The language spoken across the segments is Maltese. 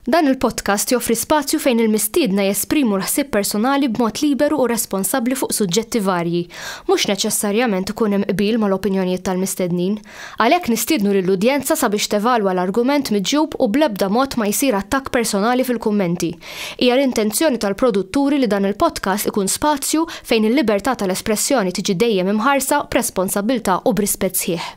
Dan il-podcast joffri spazju fejn il-mistiedna jesprimu l-ħsieb personali b'mod liberu u responsabbli fuq suġġetti varji. Mhux neċessarjament ikun hemm qbil mal-opinjonijiet tal-mistednin. Għalhekk nistiednu lill-udjenza sabiex tevalwa l-argument miġjub u bl-ebda mod ma jsir attakk personali fil-kummenti. Hija l-intenzjoni tal-produtturi li dan il-podcast ikun spazju fejn il-libertà tal-espressjoni tiġi dejjem imħarsa b'responsabbiltà u b'rispett sħiħ.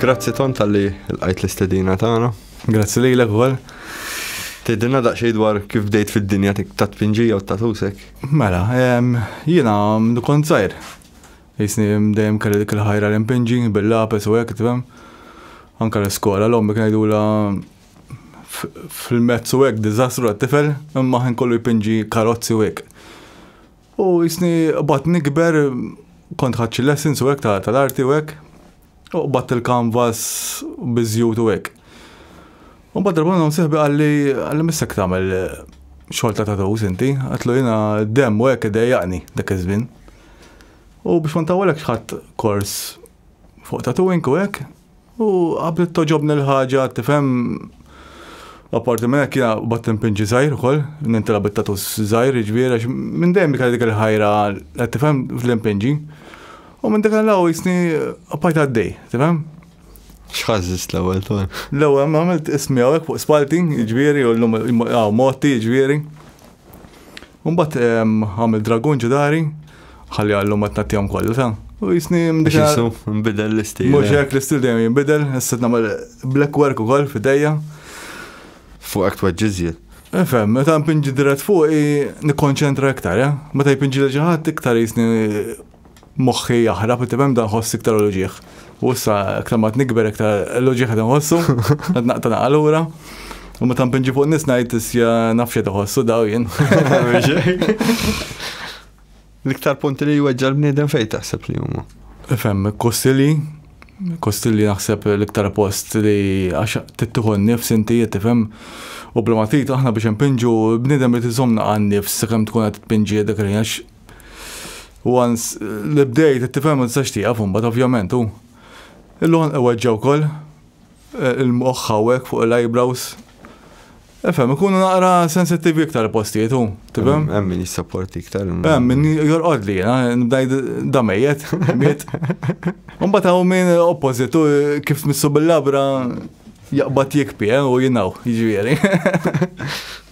Grazzi ton tal-li l-għajt l-istedina tagħna. Grazzi li l-ekwel. Tidinna daqxej dwar kif bdejt fid-dinja ta' tpinġija u ta' tusek. Mela, jina kont zaħir. Jisni dejjem kelli dik il-ħajra l-impinġi, bil-lapes u hekk, tifhem. Anka l-iskola, l-ommi kien la fil-mezz u hekk, diżastru għat-tifel, imma ħin kollu jpinġi karozzi u hekk. U jisni qbad nikber, kont ħadd xi lessons u hekk tal-arti u hekk. U qbad il-kanvas biżjut u hekk. U bad darba minnhom sieħbi qalli qalli missek tagħmel xogħol ta' tatus inti, għatlu jiena dem u hekk idejjaqni dak iż-żmien. U biex ma ntawwalekx ħadd kors fuq tatuing u hekk, U għabdet toġobni l-ħaġa, tifhem, apparti minn hekk jiena bat impinġi żgħir ukoll, nintela bit-tatu żgħir, jiġifieri għax minn dejjem kelli dik il-ħajra, qed tifhem, fl-impinġi. U minn dak l-law jisni appajt għaddej, tifhem? X'ħażżist l-ewwel ton? L-ewwel ma għamilt ismi hawnhekk fuq spalti, jiġifieri, u llum hawn motti, jiġifieri. Mbagħad għamil dragun ġudari, ħalli għallum ma tnattihom kollha ta. U jisni mdika. Nbidel l-istil. Mhux eh. hekk l-istil dejjem jinbidel, issa nagħmel black work ukoll f'idejja. Fuq hekk tweġġiżjed. Efem, meta npinġi dirett fuq nikkonċentra iktar, ja? Eh? Meta jpinġi li ġaħat iktar jisni moħħi jaħrab, inti fem dan ħoss iktar l-ġieħ. U issa, iktar ma t-nikber, iktar l-ġieħ għed nħossu, għed naqta naqalura. U ma tam pinġi fuq nis najt isja nafxie tħossu daw jien. L-iktar punti li jweġġa l-bniedem fej taħseb li huma. Fem, kostili, kostili naħseb l-iktar post li għax tittuħu n-nifs inti jittifem. U bla ma aħna biex npinġu bniedem li t-zomna għan-nifs, s-sakam tkun għat t-pinġi dak li Once li bdejt qed tifhem ma tistax tieqaf imbagħad ovvjament u l-għonq iweġġa' wkoll eh, il-moħħ hawnhekk fuq l-eyebrows. Efhem, ikunu naqra sensittivi iktar postijiet u, tifhem? Hemm min jissapporti iktar. Hemm min jorqod li jiena nibdajd damejjet, miet. Mbagħad hawn min oppożit u kif tmissu bil-labra jaqbad jikpi eh, u jinaw, jiġifieri.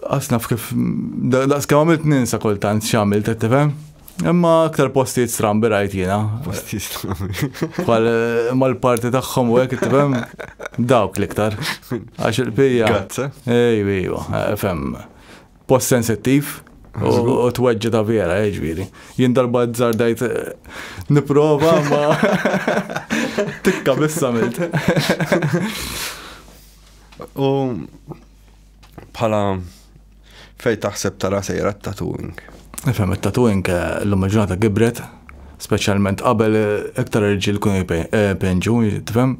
Għas naf kif, daqs kemm għamilt ninsa kultant x'għamilt qed tifhem. Imma aktar postijiet strambi rajt jiena. Postijiet strambi. Bħal eh, mal-parti tagħhom u hekk tifhem dawk l-iktar. Għax il-pija. Grazzi. Ejwa, ejwa, eh, fem. Post sensittiv. U t-weġġa ta' vera, eh, ġviri. Jien darba dajt niprofa ma tikka bissa milt. U bħala fej taħseb tara sejra t-tattooing? Nifhem it-tattooing eh, l-lum il-ġurnata gibret, speċjalment qabel eh, iktar irġiel kun eh, penġu, tifhem?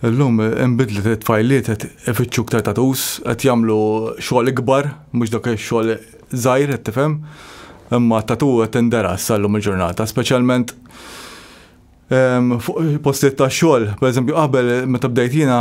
L-lum imbidlet it-tfajliet qed ifittxu iktar tatus, qed jagħmlu xogħol ikbar, mhux dak ix-xogħol żgħir qed tifhem. Imma tatu qed tinderas sal-lum il-ġurnata, speċjalment ehm, fuq postiet ta' xogħol, pereżempju qabel meta bdejt jiena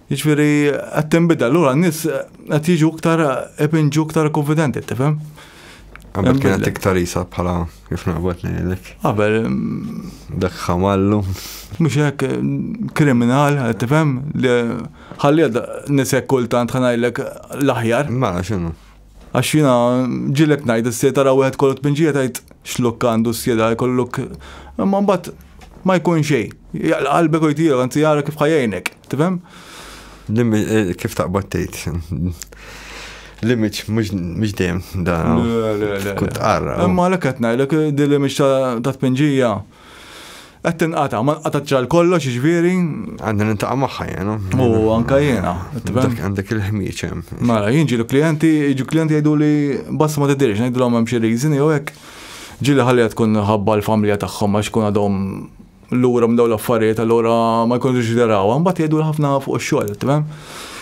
Jiġifieri qed tinbidel, allura n-nies qed jiġu iktar qed inġu iktar konfidenti, tifhem? Qabel kienet iktar isa bħala kif naqbad ngħidlek. Qabel dak ħamallu. Mhux hekk kriminal, tifhem li ħalli nisek kultant ħanajlek l-aħjar. Ma x'inhu. Għax jiena ġilek ngħid is-sjed tara wieħed kollu tpinġija tgħid x'lukk għandu s-sjed għal kollu lukk. Imma mbagħad ma jkun xejn. Jaqla qalbek u jtiegħu anzi jara kif ħajjejnek, tifhem? Eh, kif taqbad tgħid? L-image mhux dejjem da. Le, le, le. Kont qarra. Imma għalhekk qed ngħidlek eh, din l-image ta' tpinġija. Qed tinqata, ma nqatatx għal kollox jiġifieri. Għandi nintaqa' magħha jien. U anke jiena. Għandek il-ħmieġ hemm. Mara, jien ġieli klijenti, jiġu klijenti jgħidu li basta ma tidirx, ngħidulhom hemm xi reason jew hekk. Ġieli ħallija tkun ħabba l-familja tagħhom għax kun għadhom lura minn dawn l-affarijiet allura ma jkunux ġderawha, mbagħad jgħidu ħafna fuq ix-xogħol, tifhem?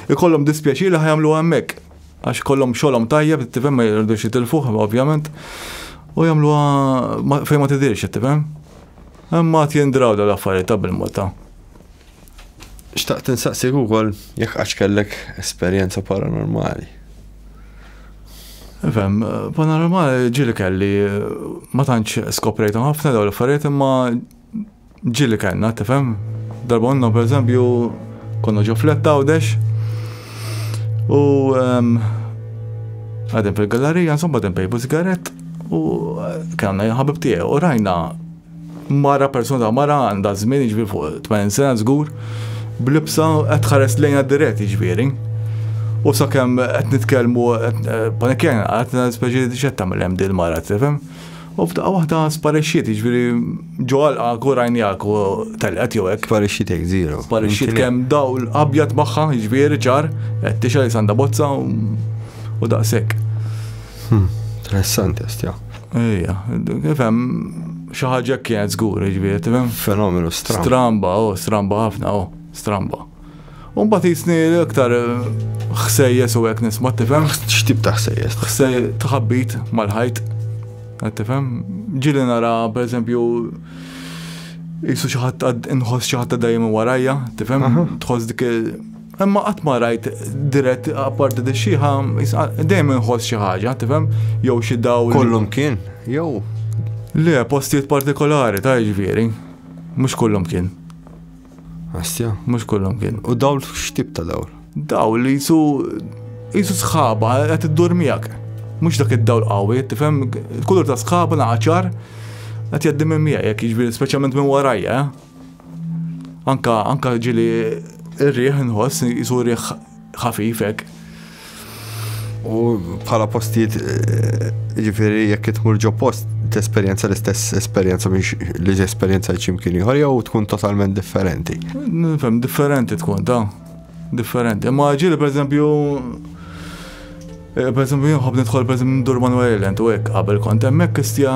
Ikollhom dispjaċir li ħajamluha hemmhekk. għax ikollhom xogħolhom tajjeb, tifhem ma jridux jitilfuh ovvjament, u jagħmluha fejn ma tidirx, tifhem? Imma għad jindraw dawn l-affarijiet ta' bil-mod ta' xtaqt insaqsik ukoll jekk għax kellek esperjenza paranormali. Fem, paranormali ġili kelli ma tantx skoprejthom ħafna dawn l-affarijiet imma Ġieli kellna, tifhem? Darba għandna pereżempju konna ġo fletta għawdex u ehm, għadem fil-gallerija, insomma għadem pejbu sigaret u kellna jħabib tiegħi u rajna mara persuna ta' mara għandha żmien jiġri fuq 80 sena żgur blibsa qed ħares lejna dirett jiġifieri. U sakemm qed nitkellmu eh, panikjana qed speċi x'qed tagħmel hemm dil mara tifhem. U f'daqqa waħda sparixxiet, jiġifieri ġo għalqak u rajnijak u telqet jew hekk. Sparixxitek zero. Sparixxiet kemm dawl abjad magħha, jiġifieri ċar, qed tixa li sanda bozza u daqshekk. Hmm, interessanti għastja. Ejja, kif hemm xi ħaġa kienet żgur, jiġifieri, tifhem? Fenomenu stramba. Stramba, oh, stramba ħafna, oh, stramba. U mbagħad jisni iktar ħsejjes u hekk nisma' tifhem. X'tip ta' ħsejjes? Ħsej tħabbit mal-ħajt. Tifhem? Ġili nara pereżempju jisu xi ħadd inħoss xi ħadd dejjem warajja, tifhem? Tħoss dik Imma qatt ma rajt dirett apparti di xieħa, dejjem inħoss xi ħaġa, tifhem? Jew xi dawl. Kollum kien, jew. Le, postijiet partikolari ta' ġifieri. Mhux kollum kien. Astja, mhux kullhom kien. U dawl x'tip ta' dawl? Dawl li jisu jisu sħaba qed iddur miegħek. Mhux dak id-dawl qawwi, tifhem kulur ta' sħaba naqaċar qed jgħaddi minn miegħi jekk jiġri speċjalment minn warajja. Eh? Anka anka ġili ir-riħ nħoss jisu riħ ħafif hekk. U bħala postijiet ġifieri jekk itmur ġo post tesperjenza l-istess esperjenza biex li esperjenza ċimkien ieħor jew tkun totalment differenti. Nifhem differenti tkun ta' differenti. Ma ġieli pereżempju eh, pereżempju jinħobb nidħol pereżempju ndur Manuel Island u hekk qabel kont hemmhekk istja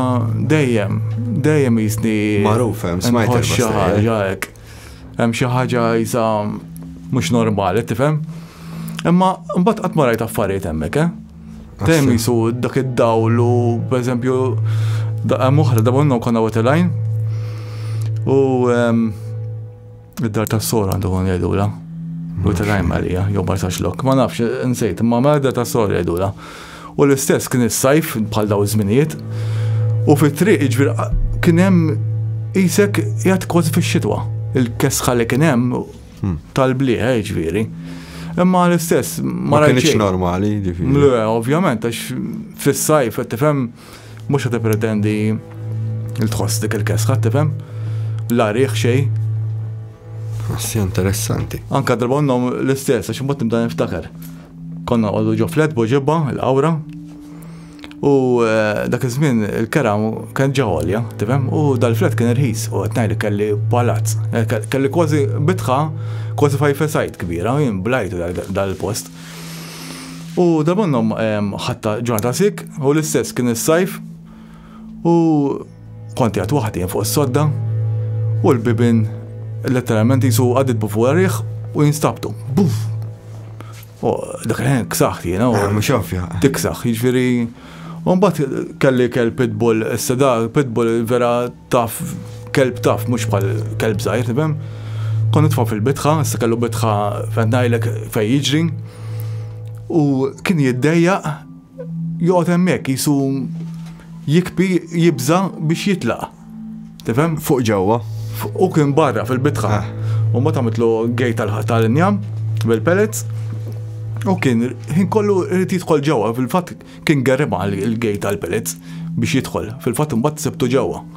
dejjem dejjem jisni. Magħruf hemm smajt. Xi ħaġa hekk. Hemm xi ħaġa jisa mhux normali, tifhem? Imma mbagħad qatt ma rajt affarijiet hemmhekk, eh? Dejjem jisu dak id-dawl u pereżempju daqqa moħra da bonnu konna wetelajn. U ehm, id-dar tas-sor għandu kon jgħidula. Wetelajn Marija, jew barsax lok, ma nafx, nsejt, ma mela id-dar tas-sor jgħidula. U l-istess kien is-sajf bħal daw iż-żminijiet. U fit-triq jiġifieri qa- kien hemm qisek qiegħed kważi fix-xitwa. Il-kesħa li kien hemm tal-bliħ eh, jiġifieri. Imma l-istess ma Hmm. Ma rajt kienx xejn. normali, ġifieri. Le, ovvjament, għax fis-sajf, qed tifhem, mhux qed pretendi il tħoss dik il-kesħa, tifhem? La riħ xejn. Assi interessanti. Anka darba għandhom l-istess, għax imbagħad nibda niftakar. Konna nqogħdu ġo flat bo ġibba, il-qawra, u eh, dak iż-żmien il-kera kien ġa għolja, tifhem? U dal-flat kien irħis, u qed ngħidli kelli palazz, eh, kelli kważi bitħa, kważi fajfesajt kbira, jien blajtu dal-post. U dabonnom ħatta ġurnata sik, u l-istess kien is-sajf, U kont jgħat waħdi fuq is-sodda u l-bibin letteralment jisu għadid bu fuq riħ u jinstabtu. Buf! U dak il-ħin ksaħt jena. Eh, mux ovvja. Tiksaħ, ġviri. Umbat kelli kell pitbull, s-seda pitbull vera taf, kelb taf, mux bħal kelb zaħir, tibem. Kont nitfa fil-bitħa, s kellu bitħa fendajlek fej jiġri. U kien jiddejja joqgħod hemmhekk qisu jikbi jibża' biex jitlaq. Tifhem? Fuq ġewwa. U kien barra fil-bitħa. Ah. U ma tagħmitlu gej tal-injam bil-pellets. U kien ħin kollu rrit jidħol ġewwa, fil-fatt kien gerriba il-gej tal-pellets biex jidħol. Fil-fatt imbagħad sebtu ġewwa.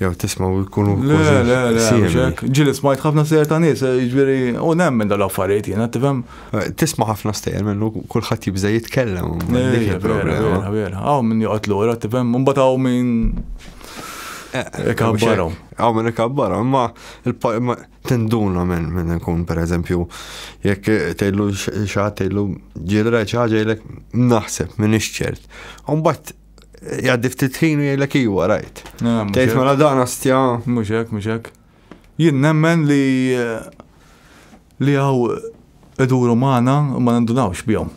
jew tismaw jkunu. Le, le, le, ġili smajt ħafna sejjer ta' nies, eh, ġviri, u nemmen dal-affarijiet jena, tifhem. Eh, tisma' ħafna sejjer minnu kulħadd jibża' jitkellem. Eh, vera, vera, għaw minn joqgħod lura, tifhem, mbagħad għaw minn. Ikabbarom. Għaw minn ikabbarom, ma tinduna minn minn nkun, per eżempju, jekk tejlu xaħat tejlu ġilra ċaġa jilek naħseb minn iċċert. Umbat jgħaddi ftit ħin u jgħidlek iwa rajt. Tgħid mela dan astja. Mhux hekk, mhux hekk. Jien nemmen li eh, li hawn iduru magħna u ma nindunawx bihom.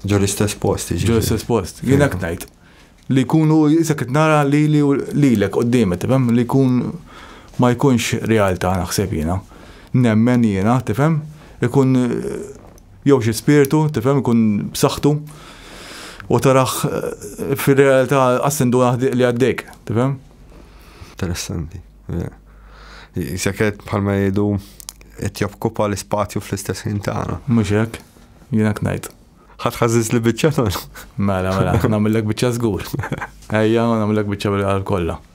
Ġo l-istess post, ġo l-istess post. Jien hekk ngħid. Li jkunu jisek nara li li lilek qoddimet, tifhem li jkun ma jkunx realtà naħseb jiena. Nemmen jiena, tifhem? Ikun eh, Jew xi spirtu, tifhem, ikun b'saħħtu u taraħ fir-realtà assendu naħdiq li għaddejk, tifhem? Interessanti. Jiseket bħalma jgħidu qed jokkupa l-ispazju fl-istess ħin tagħna. Mhux hekk, jiena ngħid. Ħadd ħażiż li biċċa Mela, mela, nagħmellek biċċa żgur. Ejja, nagħmellek biċċa bil-qalb kollha.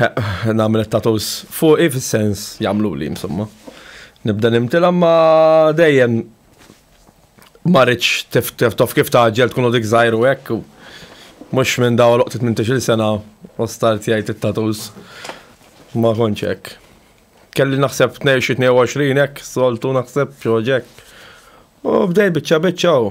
Nagħmel it-tattoos fuqi fis-sens jagħmluli insomma. Nibda nimtilha ma dejjem ma rridx taf kif taġġel tkun dik żgħir u hekk. Mhux minn daw loqtit minn tixil sena u start jgħid it-tattoos. Ma kontx hekk. Kelli naħseb 22 hekk, soltu naħseb xi ħaġa hekk. U bdej biċċa biċċa u.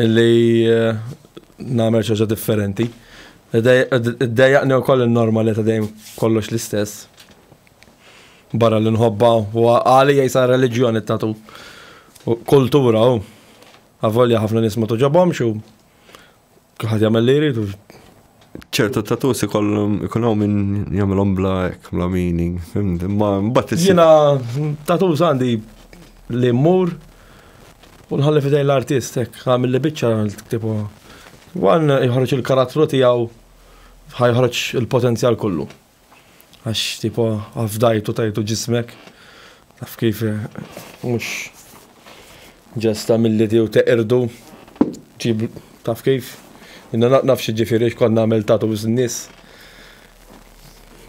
Li nagħmel xi ħaġa differenti. Iddejjaqni wkoll in-norma li ta' dejjem kollox l-istess. Barra li nħobba u għalija jisa reliġjoni tatu kultura u avolja ħafna nies ma tuġobhomx u Kulħadd jagħmel li jridu. ċertu tatus ikollhom ikun hawn min jagħmilhom bla hekk bla meaning. Imma mbagħad Jiena tatus għandi li mmur u nħalli fidejn l-artist hekk għamil li biċċa tktibu. Wan jħorġ il-karattru tiegħu ħajħorġ il-potenzjal kollu. Għax tipo afdajtu tajtu ġismek. Taf kif mhux ġest ta' milli tiegħu teqirdu ġib taf kif. Inna naf x'jiġifieri għax kont nagħmel tattoos n-nies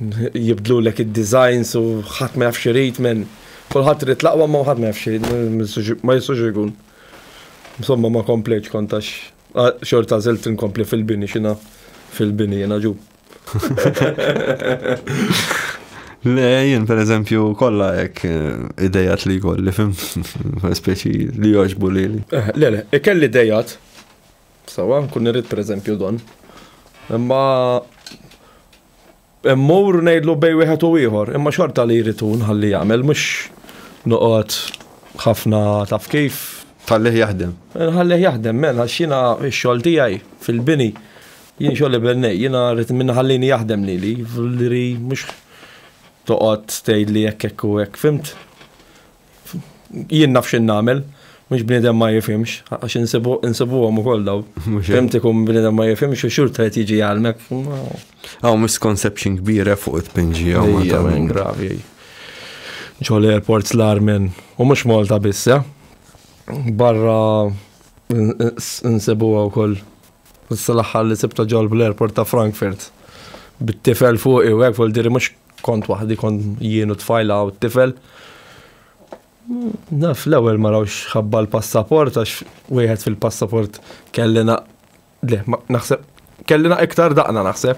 jibdlulek id-designs u ħadd ma jaf x'irid men. Kulħadd irid l-aqwa imma ħadd ma jaf x'irid, ma jistax ikun. Insomma ma komplejtx kont għax xorta għażilt inkompli fil-bini x'inha fil-bini jiena ġu. Le, jien per eżempju kollha hekk eh, idejat li kolli fim speċi li joġbu li. Eh, le, le, ikelli idejat. Sawa, nkun irrid per eżempju don. Imma Emmur ngħidlu bej wieħed u ieħor, imma xorta li jrid nħalli jagħmel mhux noqgħod ħafna taf kif. Ħallih jaħdem. Ħallih jaħdem, mela xina x-xogħol tiegħi fil-bini Jien xogħli bennej, jiena rrid minn ħallini jaħdem lili, vlri mhux toqgħod tgħidli hekk hekk u hekk, fimt? Jien naf x'in nagħmel, mhux bniedem ma jifhimx, għax insibuhom ukoll daw. Fimt ikun bniedem ma jifhimx u xurta qed jiġi jgħalmek. Hawn misconception kbira eh, fuq it-tpinġi hawn Malta. Gravi. Ġol airports l-armen, u mhux Malta biss, eh? barra nsibuha wkoll Issa l-aħħar li sibta ġol bl-airport ta' Frankfurt. Bit-tifel fuq u hekk vol diri mhux kont waħdi kont jien u tfajla u t-tifel. Naf l-ewwel ma rawx ħabba l-passaport għax wieħed fil-passaport kellina le naħseb kellina iktar daqna naħseb.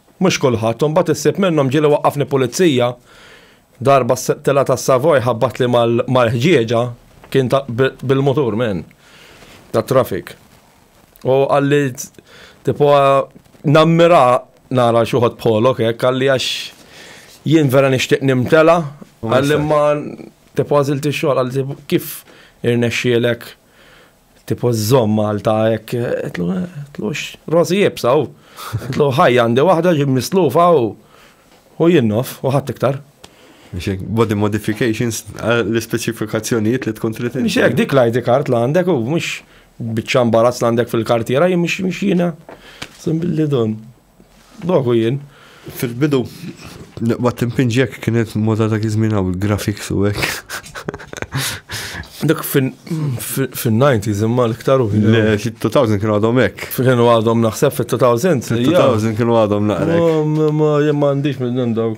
Mhux kulħadd. U mbagħad issib minnhom ġieli waqqafni pulizija, darba s-settiela tas-Savoy ħabbatli mal-ħġieġa, kien ta' bil-mutur minn tat-traffic. U qalli tipo nammira nara xi wħud bħolok hekk, qalli għax jien vera nixtieq nimtela, qalli ma tipo għażilt ix-xogħol, qalli kif irnexxielek Tipo żomm Malta hekk qedlu tlux rożi jibsa u qedlu ħaj għandi waħda ġib mislufa u u jinnof u ħadd iktar. Mxek, body modifications l-ispeċifikazzjonijiet li tkun trid. Mxek, dik l-ID card l għandek u mhux biċċa mbarazz l għandek fil-kartiera jien mhux jiena. Billi dun. Noħu jien, fil-bidu, waqt impinġi hekk kienet moda dak iż-żmien hawn il-graphics u hekk. Dak fin-90s imma l-iktar u Le, fit-2000 kienu għadhom hekk. Kienu għadhom naħseb fit-2000. Fit-2000 kienu għadhom naqra. Ma jien ma għandix minn dawn.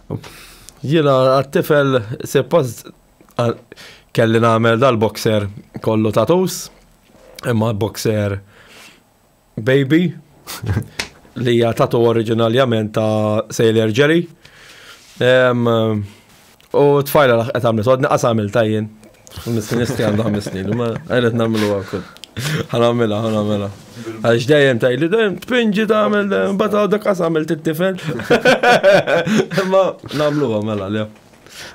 Jiena għat-tifel suppost kelli nagħmel dal-boxer kollu tatus, imma boxer baby li hija tatu oriġinaljament ta' Sailor Jerry. U tfajla laħqet għamlet, għodni qas għamil tajjen. Nistanisti għandu ħames snin, ma għajret namlu għakul. Għanamela, għanamela. Għax dajem taj li dajem tpinġi tamel, bata għadda kas għamil t-tifel. Ma namlu għamela, le.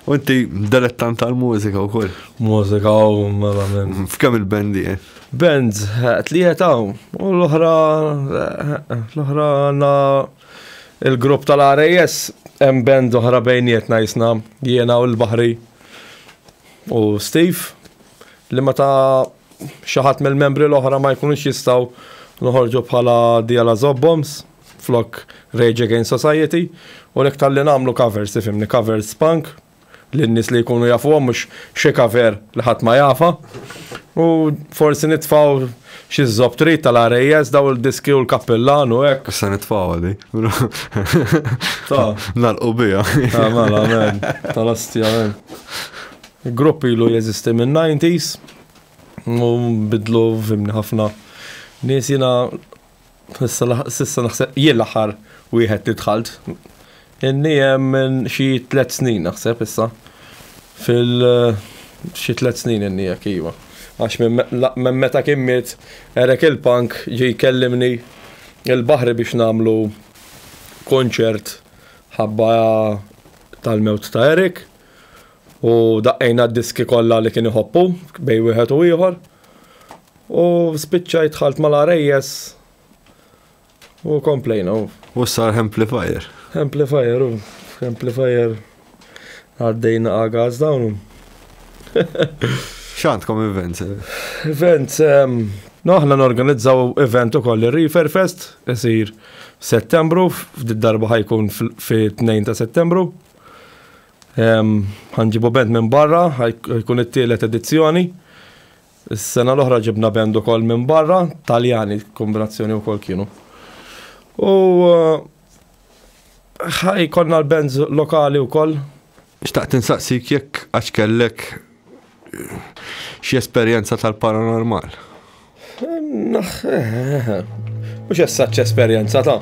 U inti dilettant tal-mużika u koll? Mużika u mela minn. Mm, f'kem il-bendi? Eh? Band, eh, tlieta u l-oħra, eh, l-oħra għanna il-grupp tal-RAS, hemm band oħra bejnietna jisna, jiena u l-bahri. U Steve, li meta xi ħadd mill-membri l-oħra ma jkunux jistgħu noħorġu bħala Diala Zobboms flok Rage Against Society u lek tal-li namlu covers, tifimni, covers punk li n-nis li jkunu jafu mux xie cover li ħat ma jafa u forsi nitfaw Xi żżobb trid tal-RAS daw il-diski u l-kappillan u hekk. Issa nitfgħuha di. Ta. Nagħlqu biha. Ta' mela men, tal-ostja men. Grupp ilu jeżisti min-90s u bidlu fimni ħafna. Nies jiena Sissa naħseb jien l-aħħar wieħed li dħalt. Inni hemm minn xi tliet snin naħseb issa. Fil xi tliet snin inni jekk iva. Għax minn meta kien miet Erek il-Punk ġie jkellimni il-Baħri biex nagħmlu kunċert ħabba tal-mewt ta' Erek u daqqejna d-diski kollha li kien iħobb hu bejn wieħed u ieħor. U spiċċajt dħalt mal-arejjes u komplejna. U sar amplifier. Amplifier, u amplifier għaddejna għagaz dawnu. Xantkom events? Events, no aħna norganizzaw event u koll il-Reefer Fest, jisir settembru, f'did darba ħajkun fi 2 ta' settembru. Għanġibu bent minn barra, ħajkun it-tielet edizzjoni. Is-sena l-oħra ġibna band ukoll minn barra, Taljani kombinazzjoni wkoll kienu. U ħaj konna l-bands lokali wkoll. Xtaqt insaqsik jekk għax kellek xi esperjenza tal-paranormal. Mhux essaċ esperjenza ta'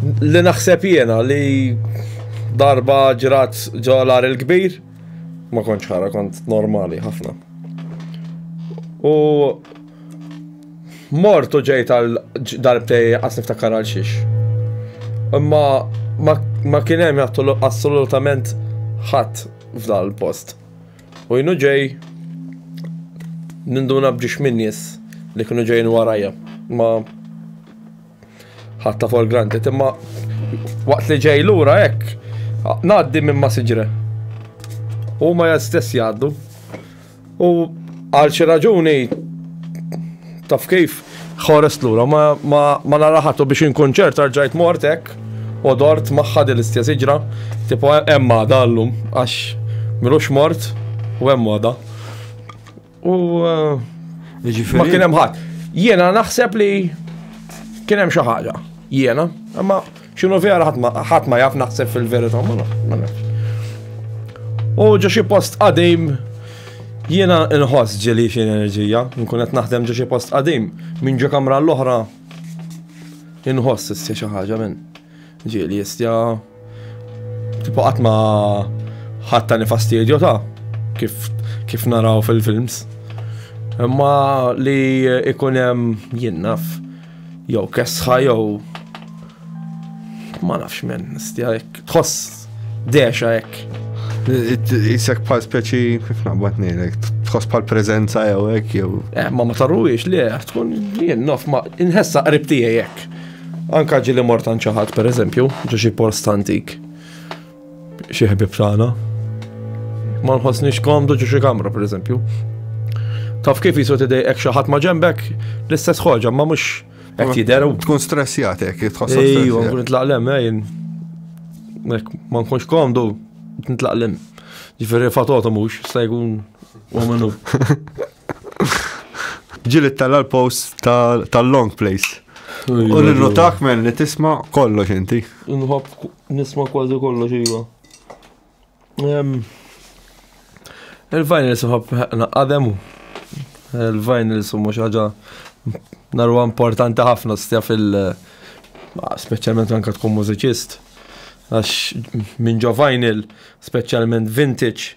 li naħseb jiena li darba ġrat ġolar il-kbir Ma kontx ħara, kont normali ħafna. U mortu ġejt għal darbtej għas niftakar għal xiex. Imma ma kien hemm assolutament ħadd f'dan il-post. U jnu ġej ninduna bġiex minnis li kienu ġejn warajja. Ma Ħatta for granted, imma waqt li ġej lura hekk, ngħaddi minn ma siġre. U ma stess jgħaddu. U għal xi raġuni taf kif ħores lura ma, ma, ma naraħatu biex inkun ċert arġajt mort hekk u dort magħha din l-istess iġra, tipo hemm għada llum għax milux mort u hemm għada. U eh, ma kien hemm ħadd. Jiena naħseb li kien hemm xi ħaġa. Jiena, imma x'inhu vera ħadd ma jaf naħseb fil-verità ma nafx. U ġo xi post qadim jiena nħoss ġeli xi enerġija, nkun qed naħdem ġo xi post qadim minn ġo kamra l-oħra inħoss issa xi ħaġa minn. Ġieli jistja tipo qatt ma ħatta nifastidju ta' kif kif naraw fil-films. Imma li ikun hemm jinnaf jew kesħa jew ma nafx men, stja jekk tħoss dexa jekk. Isek bħal speċi kif naqbad nejlek, tħoss bħal prezenza jew hekk jew. Eh, ma ma tarruwiex li tkun jinnaf ma inħessa qrib tiegħi jekk. Anka ġili mort għand xi ħadd pereżempju, ġo xi post antik. Xi ħbib tagħna. Ma nħossniex komdu ġo xi kamra pereżempju. Taf kif jisu tidejqek xi ħadd ma ġembek l-istess ħoġa, ma mhux qed jidher. Tkun stressjat hekk, tħossok. Ejju, nkun nitlaq lem, ejn. Ma nkunx komdu, nitlaq lem. Ġifieri fatotu mhux, se jkun u minnu. Ġili tella l-post tal-long place. U l-notak men li tisma kollox inti. Nħob nisma kważi kollox iva. Il-vinyl suħab għademu. Il-vinyl summa xaġa narwa importanti ħafna stja fil- specialment anka tkun mużiċist. Għax minn ġo vinyl, specialment vintage,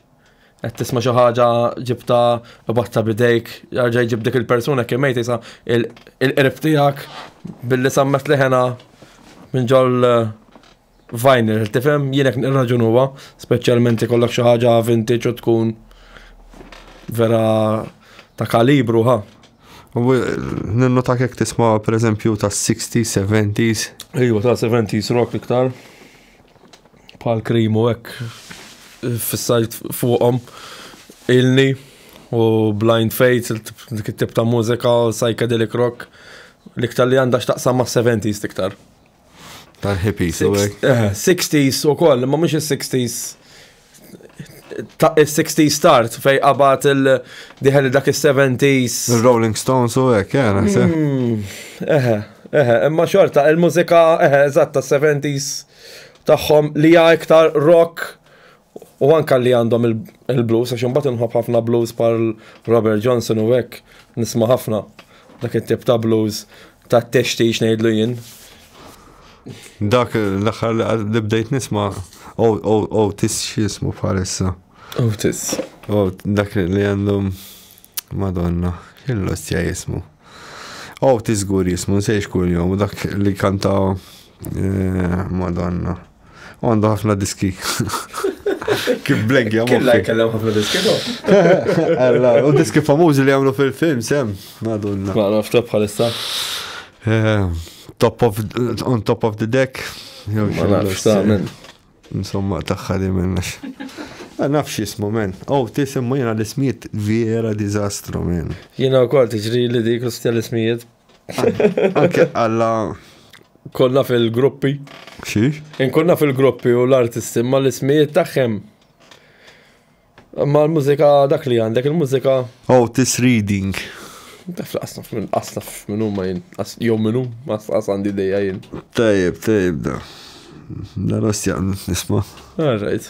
qed tisma' xi ħaġa ġibta batta bidejk, jarġa' jġib dik il-persuna kemm mejt isa il-qrib tiegħek billi sammet leħena minn ġol eh, vinyl, tifhem jienek nirraġun huwa, speċjalment ikollok xi ħaġa vintage u tkun vera ta' kalibru ha. Ninnu ta' kek tisma' per eżempju ta' 60s, 70s. Ejwa ta' 70s rock iktar. bħal krim u hekk fissajt fuqhom ilni u Blind Fates, dik it-tip ta' mużika, psychedelic rock, l-iktar li għandha x'taqsam ma' 70s iktar. Tal-hippies u hekk. 60s eh, u koll, ma mhux is-60s il-60 start fej qabat il-diħel dak il-70s. Il-Rolling Stones u għek, jena. Hmm, eħe, eħe, imma xorta, il-mużika, eħe, eżatt, ta' 70s tagħhom li hija iktar rock u anka li għandhom il-blues, għax imbagħad inħobb ħafna blues par Robert Johnson u hekk nisma' ħafna dak it-tip ta' blues Ta' t-textix ngħidlu jien. Dak l-aħħar li bdejt nisma' Otis x'jismu bħalissa. Otis. Dak li għandhom Madonna, kien l-ostja jismu. Otis gur jismu, nsejx kull jom, dak li kanta eh, Madonna. U għandu ħafna diski. Kif blegja moħħi. Killa jkellem ħafna diski Alla, u diski famużi li għamlu fil-film, sem, madonna. Ma nafta bħalissa. Eh, top of, on top of the deck. Ma nafta, men. Insomma, taħħa li minnax. Ma nafx jismu, men. Oh, tisimmu jena l-ismijiet vera dizastru, men. Jena u kol tiġri li dik l-ismijiet Anke għalla. Konna fil-gruppi. Xiex? Inkonna fil-gruppi u l-artisti ma l-ismijiet tagħhom. Ma l-mużika dak li għandek, il-mużika. Oh, this reading. Taf laqsnaf minn qasnaf minn huma jien, jew minn hu, ma qas għandi dejja jien. Tajjeb, tajjeb da. Daros jaqnu nisma. Alright.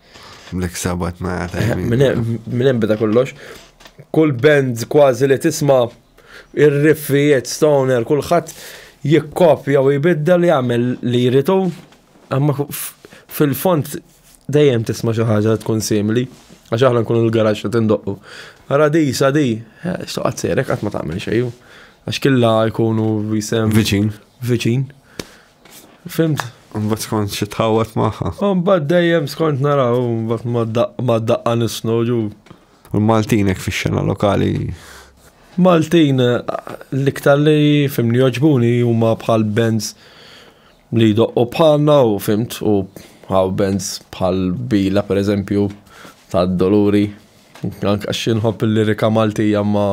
Black Sabbath ma jgħata. Minn hemm bida kollox. Kull band kważi li tisma' ir-riffijiet stoner kulħadd jikkopja u jbidda li jagħmel li jritu. Amma fil-font dejjem tisma' xi ħaġa tkun simili. Għax aħna nkunu l-garaġġ li tindoqqu. Ara di, sa di, eh, soqgħod serek qatt ma tagħmel xejn. Għax killa jkunu jisem. Viċin. Viċin. Fimt? Mbagħad skont xi tħawwad magħha. Mbagħad dejjem skont naraw mbagħad ma daqqa nisnu ġu. U l-Maltin hekk fix-xena lokali. Maltin l-iktar li fimni joġbuni huma bħal bands li doqqu bħalna u fimt u għaw bands bħal bila per eżempju ta' doluri. Anka xinħob il-lirika Maltija ma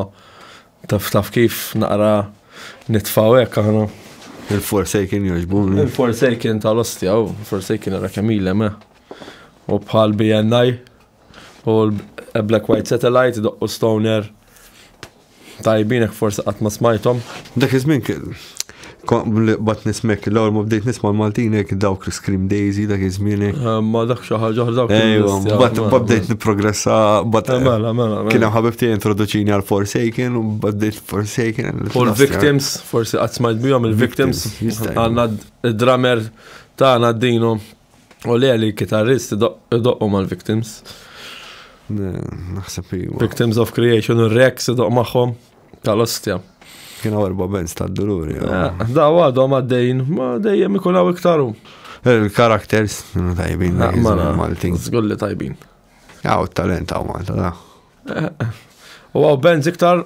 Taf taf kif naqra nitfaw hekk aħna. Il-Forsaken jogħġbuni. Il-Forsaken tal-ostja, u Forsaken era kemm ilem, eh. U bħal BNI, u l-Black White Satellite, doqqu Stoner. Tajbinek forse qatt ma smajthom. Dak iż-żmien Bat nismek, l-għor ma bdejt nisma l-Maltinek, dawk l-Scream Daisy, dak iż-żmienek. Eh, ma dak xaħġa, dawk Ejwa, bat bdejt niprogressa, bat. Eh, mela, mela, mela. Kien ħabib tiegħi introduċini għal Forsaken, u bdejt Forsaken. U l-Victims, forsi qatt smajt bihom il-Victims, għandna d-drummer tagħna d-dino. U li għalli kitarrist doqqu mal-victims. Naħseb iwa. Victims of Creation, u Rex doq maħħom tal-ostja. Kienu erba benz ta' dururi. Eh, daw għadhom għaddejn, ma dejjem ikun għaw iktaru. Il-karakters, tajbin, ah, Maltin. Zgulli tajbin. Għaw talent għaw Malta, da. Eh, eh. U għaw benz iktar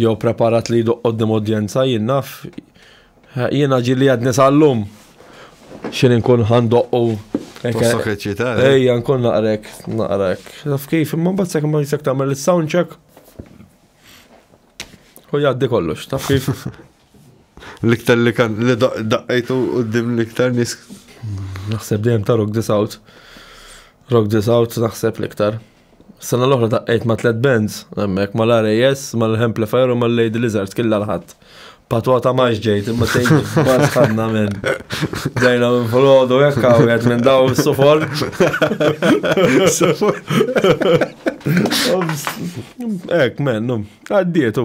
Jew preparat li jduq qoddim udjenza, jien naf, jiena ġili għadni sal-lum. Xin nkun ħandoqqu. Tossok eċitar. Eh? Ejja, nkun naqrek, naqrek. Naf kif, imma bat sekk ma jisek tamel il-sound check. U jaddi kollox, taf kif. L-iktar li kan, li daqqajtu u d-dim l-iktar nis. Naħseb dejjem ta' rock this out. Rock this out, naħseb l-iktar. Sena l-oħra taqqajt ma' tlet bands, hemmhekk mal-RAS, mal-Amplifier u mal-Lady Lizards killa l-ħadd. Patwa ta' maġ ġejt, imma tgħid bas ħadna minn. Dejna minn folodu hekk hawnhekk minn daw is-sufor. Hekk mennu, għaddietu.